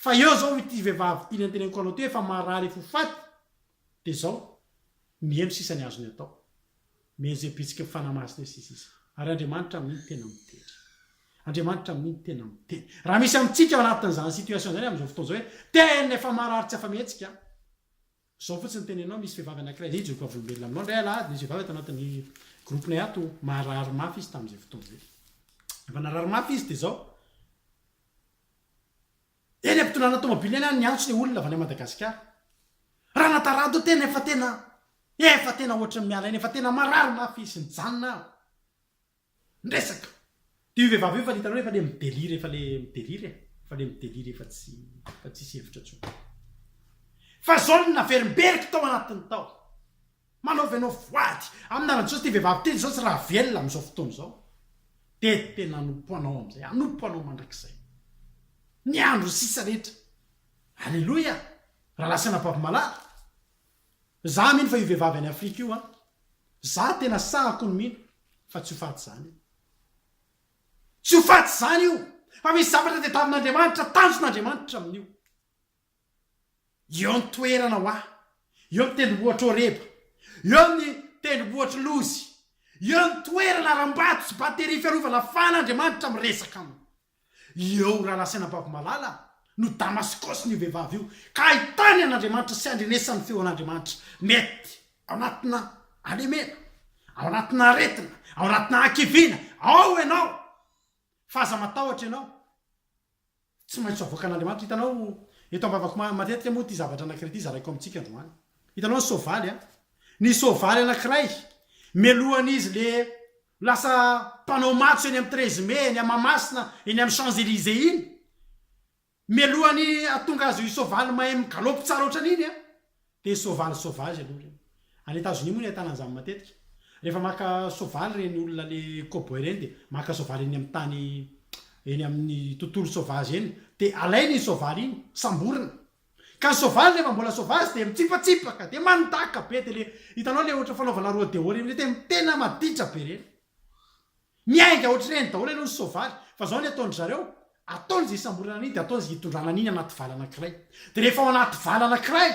Fa eo zao ity vehivavy ity nenteneniko anao ity efa marary efa ho faty de zao miheno sisa ny azony atao mais ze bitsiky ny fanahy masina eo sisa izy ary Andriamanitra amin'iny tena miteny Andriamanitra amin'iny tena miteny raha misy amintsika ao anatin'izany situation zany amin'izao fotoana zao hoe tena efa marary tsy afa-mihetsika an! Zao fotsiny tenenao misy vehivavy anakiray zay hijoboka volombelona aminao ndray alahady nisy vehivavy ato anatin'ny groupe nay ato marary mafy izy tamin'izay fotoana zay efa narary mafy izy de zao eny ampitondrana tomobile eny any niantso le olona avy any Madagasikara Ranatarado tena efa tena efa tena ohatran'ny miala eny efa tena marary mafy izy nijanona aho Miresaka! Dia io vehivavy io efa le hitanao efa le mi-delire efa le mi-delire e! Efa le mi-delire efa tsy efa tsisy hevitra intsony. Fa zao no naverimberiko tao anatiny tao. Manaova ianao voady amina raha zao ity vehivavy ity zao tsy raha velona amin'izao fotoana izao dia tena hanompo anao amin'izay, hanompo anao mandrakizay. Ny andro sisa rehetra. Aleloia! Rahalahy sy anabavy malala. Za mino fa io vehivavy any afrika io an! Za tena sahy kony mino fa tsy ho faty zany io! Tsy ho faty zany io! Fa misy zavatra tediavin'Andriamanitra, tanjon'Andriamanitra amin'io! Eo ny toerana hoa, eo ny tendrombohitr'i Horeba, eo ny tendrombohitr'i Lozy, eo ny toerana aram-bato sy batterie fiarovana afan'Andriamanitra miresaka aminy! Eo Ralasainabavmalala no damaskaosin'io vehivavy io ka ahitany an'Andriamanitra sy andrenesany feo an'Andriamanitra mety ao anatina alemena, ao anatina aretina, ao anatina hakiviana, ao ianao fa aza matahotra ianao tsy maintsy avoakan'Andriamanitra, hitanao eto ambavako matetika moa ity zavatra anakiray ity zaraiko amintsika androany, hitanao ny soavaly a, ny soavaly anakiray melohan'izy le Lasa mpanao matso eny amin'ny treize mai eny Mahamasina eny amin'ny Champs Elysées iny. Mialohan'ny hahatonga azy io soavaly mahay migalopy tsara ohatran'iny an! dia soavaly sauvage aloha ireny. Any Etazonia moa no ahitana an'izany matetika. Rehefa maka soavaly ireny olona le cowboy ireny dia maka soavaly eny amin'ny tany eny amin'ny tontolo sauvage eny dia alainy iny soavaly iny, samborina. Ka soavaly rehefa mbola soavazy dia mitsipatsipaka dia mandaka be dia le hitanao le ohatra fanaovana rodeo reny le tena maditra be reny. Miainga ohatr'ireny daholo aloha ny soavaly fa zao ny ataon-dry zareo ataony ze hisamborana an'iny dia ataony ze hitondrana an'iny anaty vala anankiray dia rehefa ao anaty vala anankiray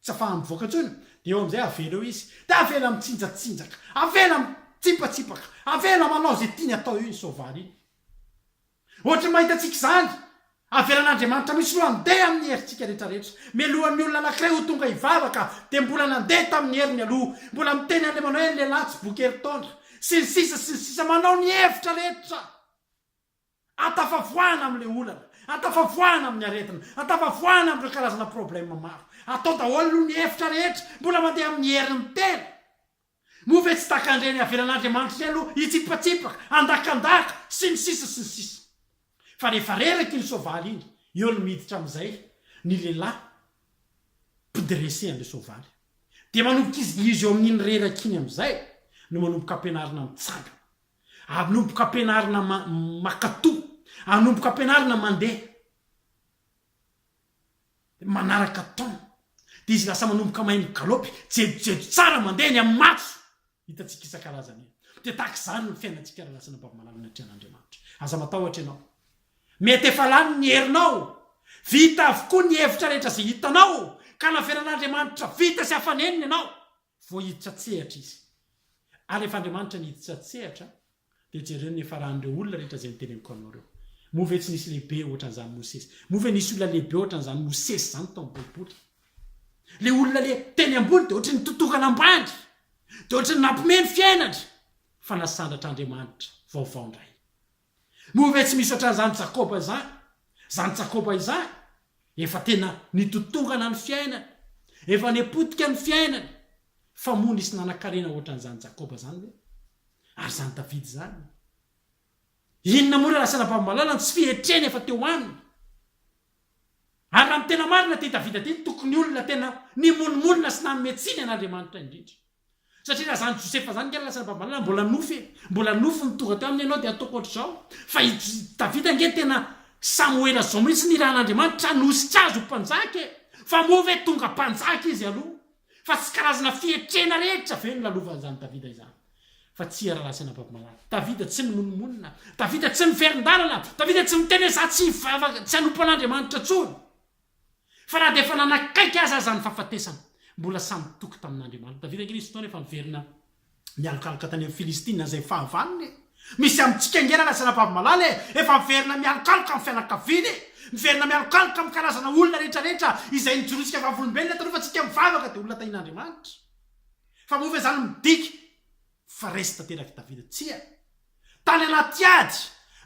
tsy afahany mivoaka intsony dia eo amin'izay avela eo izy dia avela mitsinjatsinjaka avela mitsipatsipaka avela manao ze tiany atao eo iny soavaly iny. Ohatry ny mahita antsika izany! Avelan'Andriamanitra mihitsy aloha handeha amin'ny herintsika rehetrarehetra. Mialohan'ny olona anankiray ho tonga hivavaka, dia mbola nandeha tamin'ny heriny aloha. Mbola miteny an'ilay manao hoe lehilahy tsy boky herintaona. Sy ny sisa sy ny sisa. Manao ny hevitra rehetra hahatafavoahana amin'ilay olana, hahatafavoahana amin'ny aretina, hahatafavoahana amin'ireo karazana problème maro. Atao daholo aloha ny hevitra rehetra, mbola mandeha amin'ny herin'ny tena. Moa ve tsy takan-dre ny havelan'Andriamanitra iny aloha hitsipatsipaka, handakandaka, sy ny sisa sy ny sisa. Fa rehefa reraky iny soavaly iny, eo no miditra amin'izay ny lehilahy mpidirese an'ilay soavaly. Dia manomboka izy, izy eo amin'iny reraka iny amin'izay no manomboka ampianarina mitsangana, anomboka ampianarina ma, makatò, anomboka ampianarina mandeha. manaraka temps de izy lasa manomboka mahay migalopy jejojejo tsara mandeha eny amin'ny matso hitantsika isan-karazany eny de tahaka izany ny fiainantsika raha lasa anabavy malala ny atrehan'Andriamanitra aza matahotra ianao mety efa lany ny herinao vita avokoa ny hevitra rehetra izay hitanao ka naverin'Andriamanitra vita sy afa-nenina ianao Voahiditra an-tsehatra izy. Ary rehefa Andriamanitra nihiditra an-tsehatra, dia jereo ny nifarahan'ireo olona rehetra izay noteneniko anao ireo. Moa ve tsy nisy lehibe hoatran'izany Mosesy? Moa ve nisy olona lehibe hoatran'izany Mosesy izany tao amin'ny Baiboly? Ilay olona le teny ambony dia ohatry ny tontokana ambany, dia ohatry ny nampiomehy ny fiainany, fa nasandratr'Andriamanitra vaovao indray. Moa ve tsy misy ohatran'izany Jakoba izany? Izany Jakoba izany efa tena nitontongana ny fiainany, efa nepotika ny fiainany, fa moa nisy nanan-karena ohatran'izany Jakoba izany ve? Ary izany Davida izany? Inona moa ilay lasana babo-malala no tsy fihetreny efa teo aminy? Ary raha ny tena marina ity Davida ity, tokony olona tena nimonomonona sy nanome tsiny an'Andriamanitra indrindra. Satria raha zany Josefa zany nge lasa babanao mbola nofy e, mbola nofy ny tonga teo aminy ianao dia ataoko ohatr'izao, fa i Davida nge tena Samoela zao mihitsy nirahan'Andriamanitra hanosika azy ho mpanjaka e, fa moa ve tonga mpanjaka izy aloha? Fa tsy karazana fietrena rehetra ve no lalovan'izany Davida izany? Fa tsia rahalahy sy anabavy-malala, Davida tsy mimonomonona, Davida tsy miverin-dalana, Davida tsy miteny hoe za tsy hivavaka, tsy hanompo an'Andriamanitra intsony. Fa na dia efa nanakaiky azy aza ny fahafatesana, mbola samy nitoky tamin'Andriamanitra. Tadidiko ange nisy fotoana efa niverina mialokaloka tany amin'ny Filistina izay fahavalony e! Misy amintsika ange lalazana vavy malala e! Efa miverina mialokaloka amin'ny fianakaviana e! Miverina mialokaloka amin'ny karazana olona rehetrarehetra izay nijorotsika vavolombelona taloha fa tsika mivavaka dia olona tahin'Andriamanitra. Fa moa ve izany midika Fa resy tanterak'i Davida. Tsia. Tany anaty ady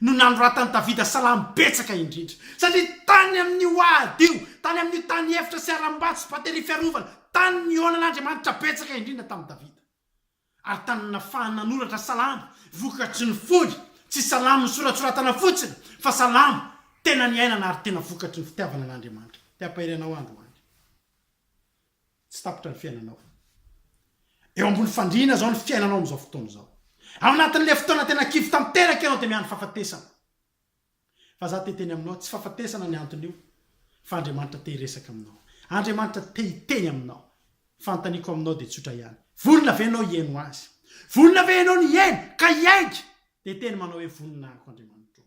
no nanoratan'i Davida salamo betsaka indrindra. Satria tany amin'io ady io, tany amin'io tany efitra sy harambato sy bateria fiarovana, tany nihaonan'Andriamanitra betsaka indrindra tamin'i Davida. Ary tany nahafahany nanoratra salamo vokatry ny fony, tsy salamo nosoratsoratana fotsiny, fa salamo tena niainana ary tena vokatry ny fitiavana an'Andriamanitra. Te-hampahery anao androany. Tsy tapitra ny fiainanao. Eo ambony fandriana izao ny fiainanao amin'izao fotoana izao. Ao anatin'ilay fotoana tena kivy tanteraka ianao dia miandry fahafatesana. Fa za te hiteny aminao, tsy fahafatesana ny anton'io fa Andriamanitra te hiresaka aminao. Andriamanitra te hiteny aminao. Fanontaniako aminao dia tsotra ihany, vonona ve ianao hihaino Azy? Vonona ve ianao ny hihaino ka hiaiky? Dia teny manao hoe, Vonona aho, Andriamanitro.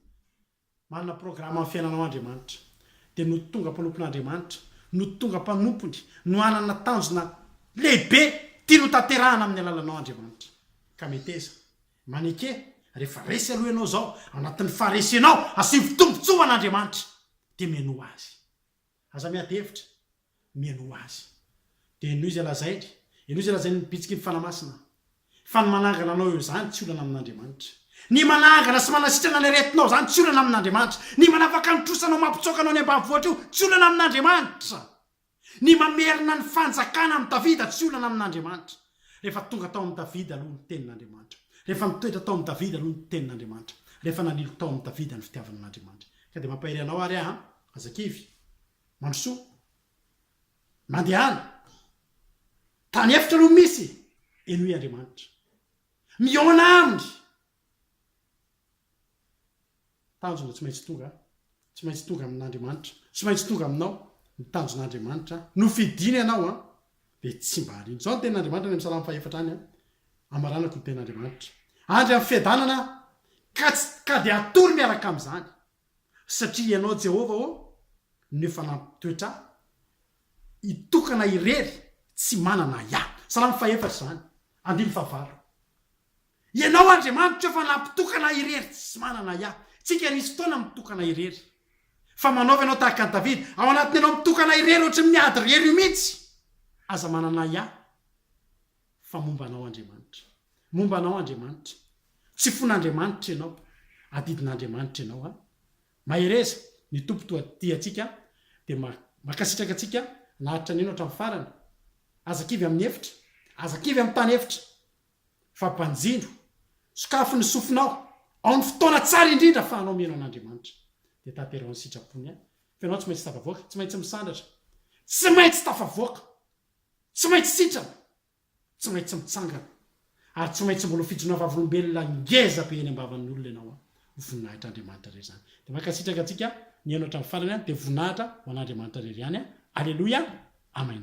Manana programa amin'ny fiainanao Andriamanitra. Dia no tonga mpanompon'Andriamanitra, no tonga mpanompony, no hanana tanjona lehibe tiany hotanterahana amin'ny alalanao Andriamanitra. Ka meteza, maneke, rehefa resy aloha ianao izao, ao anatin'ny faharesenao, asio ny fitombotsoa ho an'Andriamanitra, dia menoa Azy. Aza miady hevitra, mihainoa Azy. Dia henoy izay lazainy, henoy izay lazain'ny bitsiky ny Fanahy Masina. Fa ny manangana anao eo izany tsy olana amin'Andriamanitra. Ny manangana sy manasitrana ny aretinao izany tsy olana amin'Andriamanitra. Ny manafaka ny trosa anao mampitsoaka anao any ambanivohitra io tsy olana amin'Andriamanitra. Ny mamerina ny fanjakana amin'i Davida tsy olana amin'Andriamanitra. Rehefa tonga tao amin'i Davida aloha ny tenin'Andriamanitra. Rehefa nitoetra tao amin'i Davida aloha ny tenin'Andriamanitra. Rehefa nanilo tao amin'i Davida ny fitiavana an'Andriamanitra. Ka dia mampahery anao ary aho an. Aza kivy. Mandrosoa. Mandehana. Tany efitra no misy. Henoy Andriamanitra. Mihaona aminy. Tanjona tsy maintsy tonga. Tsy maintsy tonga amin'Andriamanitra. Tsy maintsy tonga aminao. Ny tanjon'Andriamanitra. Nofidiny ianao an. Dia tsy mba arino. Izao ny tenin'Andriamanitra any amin'ny salamo fahefatra any an. Amaranako ny tenin'Andriamanitra. Andry amin'ny fiadanana ka tsy ka dia hatory miaraka amin'izany. Satria Ianao Jehovah ô, no efa nampitoetra ahy, hitokana irery tsy manana ahiahy. Salamo fahefatra izany, andininy fahavalo. Ianao Andriamanitra efa nampitokana ahy irery tsy manana ahiahy. Tsika nisy fotoana mitokana irery. Fa manaova ianao tahaka an'i Davida, ao anatin'ianao mitokana irery ohatry ny miady irery io mihitsy, aza manana ahiahy. Fa momba anao Andriamanitra. Momba anao Andriamanitra. Tsy fon'Andriamanitra ianao. Adidin'Andriamanitra ianao an. Mahereza, ny Tompo toa tia antsika dia mankasitraka antsika naharitra an'io hatramin'ny farany. Aza kivy amin'ny efitra. Aza kivy amin'ny tany efitra. Fa banjino. Sokafy ny sofinao. Ao ny fotoana tsara indrindra afahanao mihaino an'Andriamanitra. Dia tanteraho ny sitrapony an. Fa ianao tsy maintsy tafavoaka. Tsy maintsy misandratra. Tsy maintsy tafavoaka. Tsy maintsy sitrana, tsy maintsy mitsangana, ary tsy maintsy mbola ho fijona vavolombelona ngeza be eny am-bavan'ny olona ianao an! Ho voninahitr'Andriamanitra irery izany. Dia mankasitraka antsika nihaino hatramin'ny farany an! Dia voninahitra ho an'Andriamanitra irery ihany an! Aleloia! Amen!